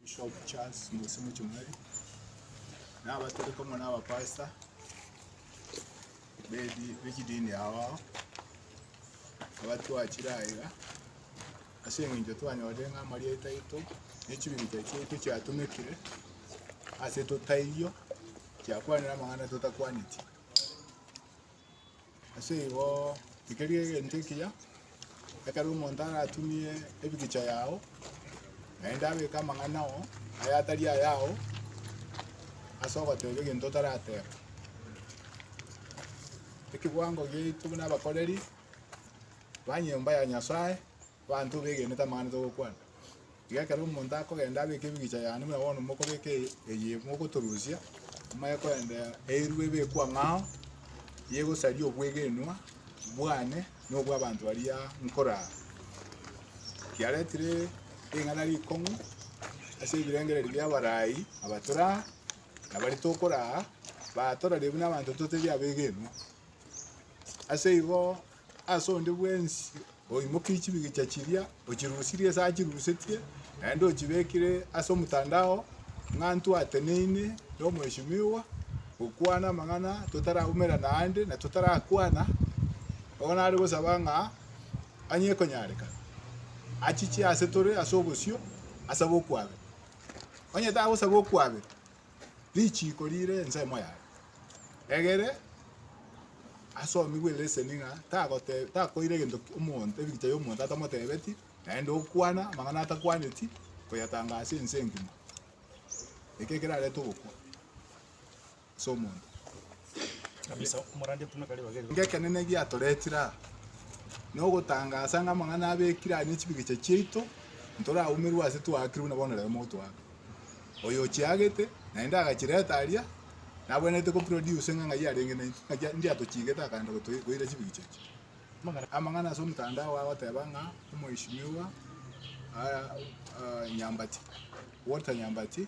Bishop Charles Ngosi Muchumari, na abatoriki amo na abapastor bedi bechidini abo ao, abatwachire aiga, ase eng'encho twanyorire ng'a amarieta aito na echibirincha chiaito chiatomekire ase totaiyo, chiakwanire amang'ana totakwaneti. Ase igo rigeria egento ekiya, ekero omonto aratumie ebigicha yao, naende abeke amang'ana oo aye atari ayao ase ogoteba egento otarateba. Ekiwango giaito buna abakoreri ba nyomba ya Nyasae, Abanto begenete amang'ana togokwana. Iga ekero omonto akogenda abeke ebigicha yane, buna bono mokobeka eye mogotorusia, moye korende eirwe ebekwe ang'o ao, yegosaria obwegenwa bwane na obw'abanto baria nkorara. Kiaretire ring'ana rikong'u ase ebirengererio bi'abarai aba tore aa, na baria tokoraa, batorarie buna abanto totebi abegenwa. Ase igo ase onde bwensi oimokeire chibigicha chiria, ochirusirie ase achirusetie, naende ochibekire ase omotandao ng'a intwe ateneine na omweshimiwa gokwana amang'ana totaraumerana aande na totarakwana, bono nare gosaba ng'a onye ekonyarekana, achiche ase tore ase obosio asaba okwabera. Onye tagosaba okwabera. richiiko rire ensemo yaye, egere asomigwe eleseni ng'a tagote takoira egento ki omonto ebigicha y'omonto atamotebeti, naende okwana amang'ana atakwaneti, koyatanga ase ense engima. Eke kerarete ogokwa ase omonto. Ng'ekenene egiatoretire aa, nogotangaasa ng'a amang'ana abekire aya nechibigicha chiaito, ntoraumerwe ase twaakire buna bono rero mogotoaka. Oyo ochiagete, naende agachireta aria, nabwenerete go produce ng'a ng'ai arenge naintwe, ng'aki ninki atochiigete akaenda gotoi goira chibigicha echi. Amang'ana ase omotandao agoteba ng'a omheshimiwa Nyambati, Walter Nyambati.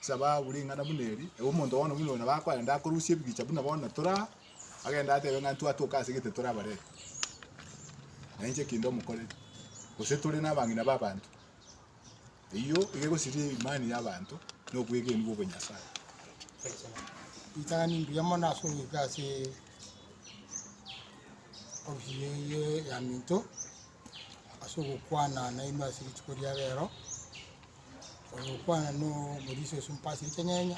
Saba abwo ring'ana buna eri, ewe omonto bono buna oyo nabo akoenda akorusia ebigicha buna bono tore aa, agende atebe ng'a intwe atoke ase egete tore abarebe, na inche eki ndomokorere, gose tore nabang'ina b'abanto. Eyio iga egosiria imani y'abanto na obwegeni bw'obonyasae. Ritang'ani mbuya mono ase ogoika ase ofisi eye ya minto. ase ogokwana nainwe ase rituko ria rero, ogokwana na omorisia o esump ase chinyanya,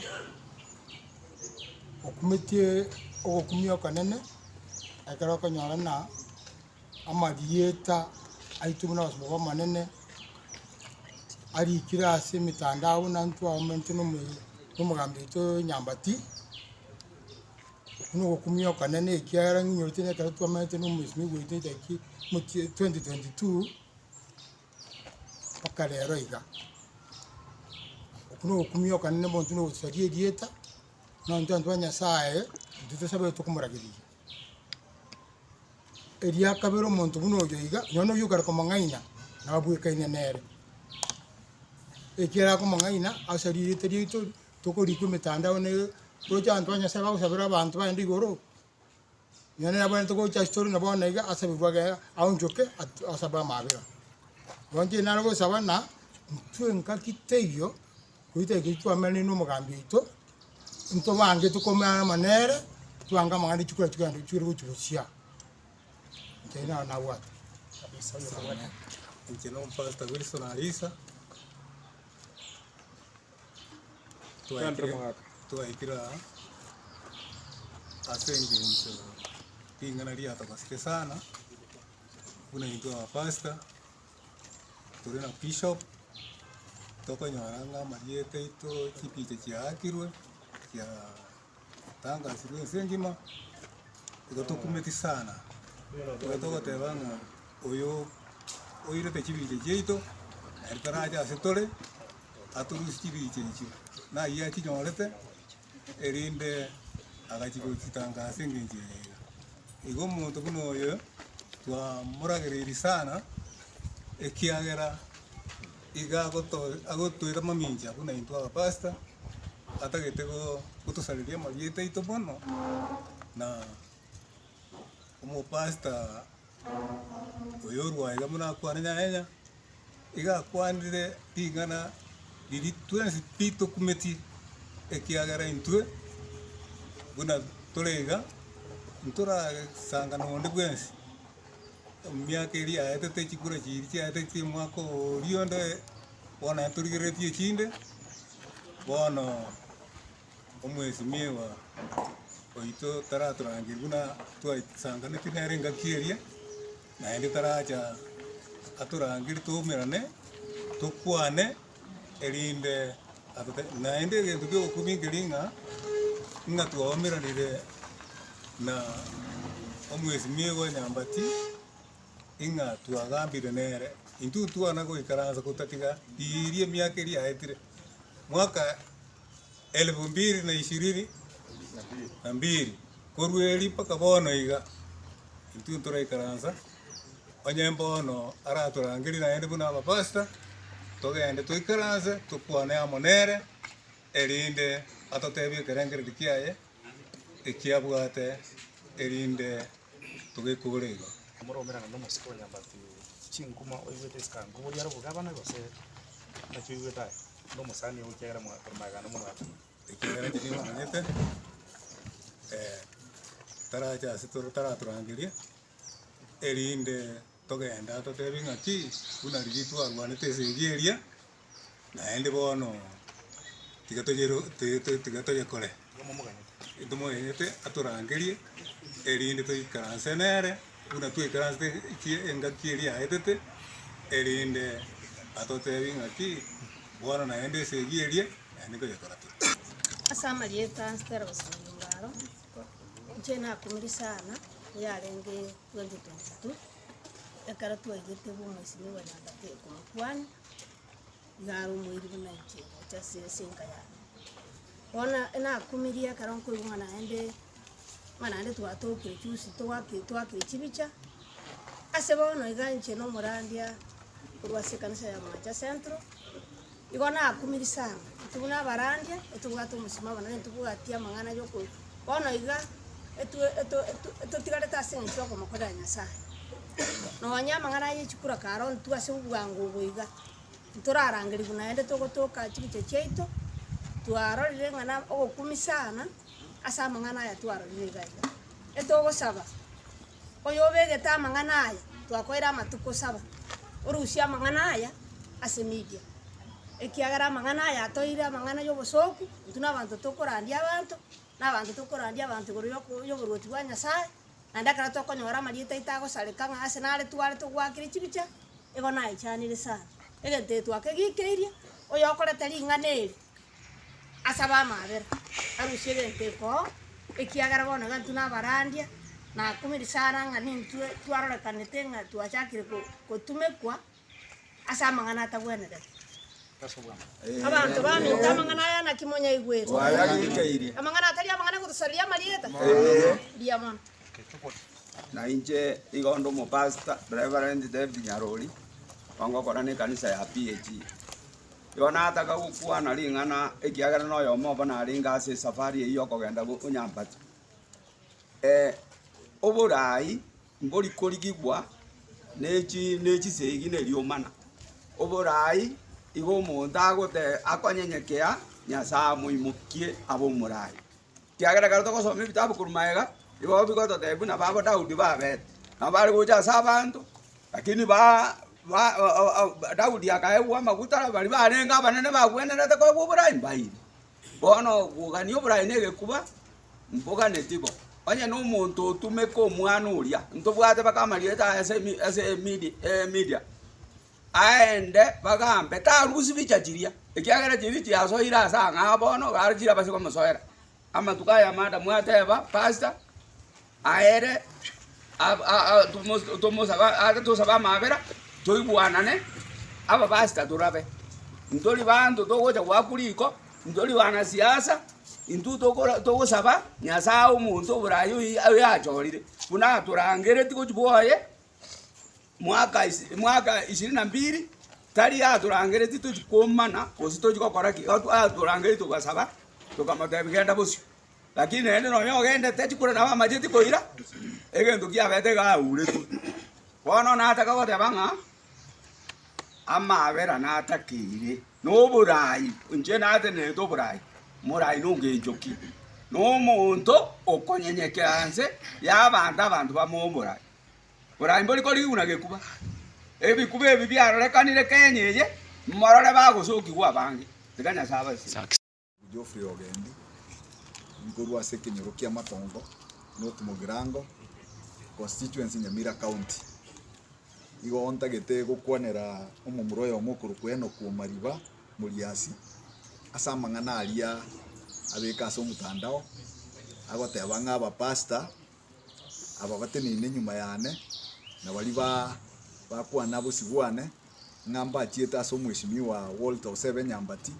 okumetie ogokumia okonene, ekero okonyora ng'a amarieta aito buna abasomba b'Omonene arikire ase emetandao buna intwe abamanyete na omo- na omogambi oito Nyambati, Buna ogokumia okonene, ekiagera ng'inyorete na ekero twamenete na omoiseke goetwa Nyasae mochie 2022 mpaka rero iga. Okwo na ogokumia okonene bontwe na ogosaria erieta, buna intwe abanto ba Nyasae, intwe tosabeire tokomoragereria. Eria kabere omonto buna oyo iga, nonye na oyio okare komong'aina, nabwekaine nere, ekiagera akomong'aina asaria erieta riaito. tokorikwa emetandao ne toroche abanto ba Nyasae bagosabera abanto baende igoro, nonya nere abwenerete gocha ase tore na bono iga asabigwe age aonchoke at- asabe amabera. Roche ere nare gosaba na intwe engaki teiyo, goita ekero twamenire na omogambi oito, intwe abange tokomenyana amo nere, twange amang'ana chikora chigenda chire gochi gochia. Inche ayio nabo nabwate. Inche no pastor Wilson Arisa. Twaikire twaikire aa ase engencho ring'ana riatogosire sana buna intwe abapastor tore na bishop tokonyora ng'a amarieta aito chipicha chiaakirwe chia Twatangasirwe ense engima, igo tokumeti sana, igo togoteba ng'a oyo oirete chibiche chiaito ere tarache ase tore atorusie chibiche echio, nayio achinyorete erinde agachi gochitanga ase engencho eye iga. Igo omonto buna oyo twamoragereiri sana ekiagera. Iga agotoira mamincha buna intwe abapastor, atagete gotosareria amarieta aito bono, na omopastor oyo orwa iga buna akwane nyanya, iga akwanire ring'ana riri twensi ritokumetie, ekiagera intwe buna tore iga, ntorasangana onde bwensi. Emiaka eria yaetete, chikura chiiri chiaetete chia omwaka oria onde, bono naende torigereretie echinde, bono omwesimiewa oito taratorangeria buna twaesanganeti nere engaki eria, naende taracha atorangerie twaumerane, tokwane. erinde atotebie. Naende egento ki'obokubi nkeri ng'a, ng'a twaumeranire na omwesimia oye nyambati, ng'a twagambire nere. Intwe ntwana goikaransa gotatiga riiri emiaka eria yaetire, mwaka elfu mbiri na ishirini na mbiri korwa eeri mpaka bono iga. intwe ntoraikaransa, onye mbono aratorangerie naende buna abapasita, togende toikaranse tokwane amo nere, erinde atotebie ekerengererio kiaye ekiabwate erinde togekore igo. Omoromereria nomosike o nyabati chinkuma oigwete esikankwa boria aroboke abana gose? Naki oigwete aye? Nomosani oo ekiagera mwakoromegana momwatana. Ekiagera ekio nigo omanyete, tarache ase toro taratorangerie, erinde togende atotebe ng'aki, buna riria twarwanete esegi eria, naende bono tiga toyero tiga to tiga toyekore, ntomoganyete atorangerie, erinde toikaranse nere. buna twaikaransete ki engaki eria yaetete, erinde atoteebie ng'aki, Bono naende esegi eria naende nkonya toratebe. Ase amarieta a Steros na Yubalo, inche nakumire sana eyarenge 2022 ekero twaigete bw'omwesimi bwa Nyagati Ekumukwani. Naromoiri buna ekiegwato ase ensinka yane. Bono nakumirie ekero nkoigwa ng'a naende ng'a naende twatokire chiusi twaki twakire chibicha, ase bono iga inche na omorandia korwa ase ekanisa ya Omoacha Central, igo nakumiri sana. Intwe buna abarandia nitobwate omosimamo naende nitobwatia amang'ana yoko bono iga etwe eto eto etotigarete ase eng'encho ya okomokorera Nyasaye. Nonya amang'ana ye chikura karo ntwe ase obwango obo iga. ntorarangerigwe naende togotoka chibicho chiaito, twarorire ng'a na ogokumisana ase amang'ana aya twarorire iga iga. Etogosaba oyo obegete amang'ana aya twakoire amatuko saba, orusie amang'ana aya ase media, ekiagera amang'ana aya atoire amang'ana ya obosooku, intwe na abanto tokorandia abanto, na abanto tokorandia abanto igoro yoko yoboruoti bwa Nyasaye. Naende ekero tokonyora amarieta aito agosareka ng'a ase nare tware togwakire chibicha, igo naichanire sana, egento eke twakegikeirie oyokorete ring'ana eri ase abamabera arusie egento ekoo, ekiagera bono iga intwe nabarandia nakumiri sana ng'a nintwe twarorekanete ng'a twachakire go- gotumekwa. ase amang'ana atagwenerete. Abanto baminto amang'ana aya, naki monyaigwete? Amang'ana atari amang'ana gotosareria amarieta? Mbuya mono. Na inche igo onde omopastor, Reverend David Nyaruri, ongokora nekanisa ya PAG. Igo nataka gokwana ring'ana ekiagera na oyomo obo narenge ase esafari eyio yokogenda go- Onyampati. Eh, oborai. Ngorikorigigwa nechisegi ne riomana, oborai igo omonto akonyenyekea Nyasae amoimokie abe omorai. Ekiagera ekero togosoma ebitabu korwa magega, nigo bigototebia buna babo Daudi babete. Nabo bare gocha ase abanto, rakini Daudi akaegwa amaguta, baria barenge abanene bagwenerete koegwa oborai mbaire. Bono bogania oboraai negekuba, mboganeti bo. Onye nomonto otumeka omwana oria, ntobwate baka amarieta aye ase emi ase emidi emedia, aende bagambe, tarusi bicha chiria, ekiagera chiria chiasoire ase ang'aa bono, gare chirabase komosoera. Amatuko aya amanda mwateba, pasta. Aere, tosabe amabera, toigwanane, abapasita torabe. Ntori banto togocha goakwa riko, ntori banasiasa, intwe togosaba Nyasaye ae omonto oboraye oyachorire, buna atorangereti gochia bwoye mwaka mwaka ishirini na mbiri, tari yatorangereti tochi komana gose tochi gokora ki, atorangereti togasaba, tokamotebia genda bosio. Lakini naende nonya ogendete chikure nabo amacheti koira egento kiabete iga auretwe. Bono nataka goteba ng'a amaabera natakeire noborai, inche natenerete oborai, morai nogencho ki? Nomonto okonyenyekera anse yabanto abanto bamoe oborai. Borai mbori korigia buna gekuba, ebikuba ebi biarorekanire Kenya eye, morore bagosokigwa abange, tiga Nyasae abasesie. Geoffrey Ogendi, nkorwa ase ekenyoro kia Matongo North Mugirango, Constituency Nyamira County. Igo ntagete gokwanera omomura oyomo okorokwa Enock Omariba Moriasi ase amang'ana aria abeka ase omotandao agoteba ng'a abapastor ababateneine nyuma yane, na baria ba bakwana bosio bwane, ng'a mbachiete ase omweshimiwa Walter Osebe Nyambati,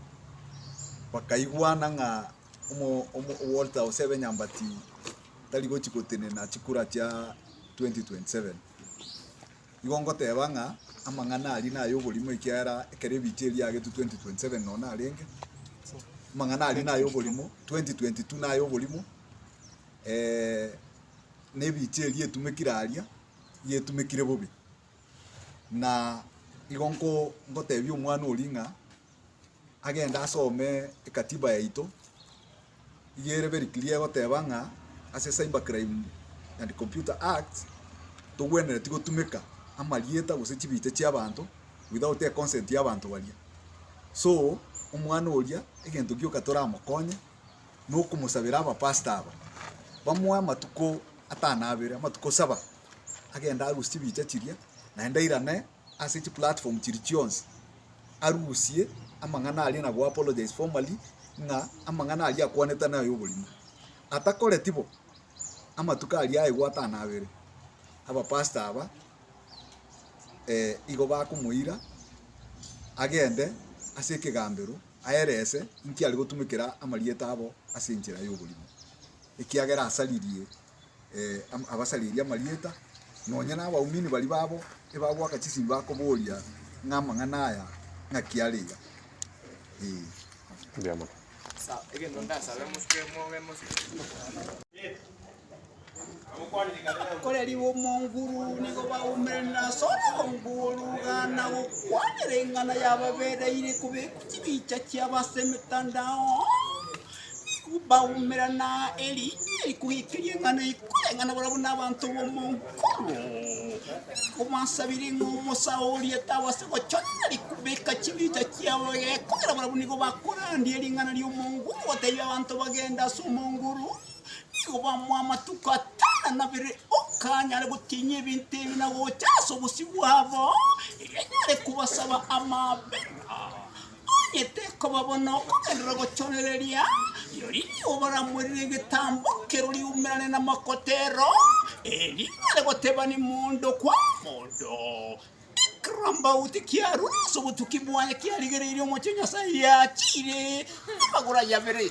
bakaigwana ng'a omo omo Walter Osebe Nyambati tari gochi gotenena chikura chia 2027. Igo ngoteba ng'a amang'ana aria naye oborimo ekiagera ekero ebicha eria yagetwe 2027 nonya narenge, amang'ana aria naye oborimo, 2022 naye oborimo. nebiche eria etumekire aria, nigo etumekire bobe, na igo nko nkotebia omwana oria ng'a agende asome ekatiba yaito, iga ere very clear egoteba ng'a ase cyber crime and computer act, togwenereti gotumeka amarieta gose chibicha chia abanto without econsent y'abanto baria. So, omwana oria egento gioka toramokonye. nokomosabera abapastor aba bamoe amatuko atano abere, amatuko saba, agende arusie chibicha chiria naende airane ase chiplatform chiria chionsi, arusie amang'ana aria na go apologise formally ng'a amang'ana aria akwanete naya oborimo. Atakoreti bo, amatuko aria aigwa atano abere, abapastor aba igo bakomoira agende ase ekegambero. aerese inki ari gotumekera amarieta abo ase enchera y'oborimo, ekiagera asaririe abasaririe amarieta, nonya nabaumini baria babo ebagoaka chisinyi bakoboria ng'a amang'ana aya ng'aki are iga. Ee. Abakoreri b'omonguru nigo baumerane na Solomon korwana gokwanera eng'ana yababereire kobekwa chibicha chiabo ase emetandao. Nigo baumerana erinyia eri kogeikeria eng'ana ekoreng'ana barabwo nabanto b'omonguru. Nigo basabire ng'a omosaoria tabase gochorera ri kobeka chibicha chiabo egekogera barabwo nigo bakorandia ring'ana ri'omonguru gotebia abanto bagende ase omonguru. Nigo bamoa amatuko atano na nabere okanyare gotinyia ebinto ebi na gocha ase obosio bwabo, erio anyare kobasaba amabera. Onye tekoba bono okogenderera gochorereria, rirorio nigo baramoirere egetambo kerore riumerane namakotero, erio anyare gotebania mondo kwa mondo. Ekerambauti kiarua ase obotuki bwaye kiarigereirie omochie o Nyasae, yachiire amagoro aye abere.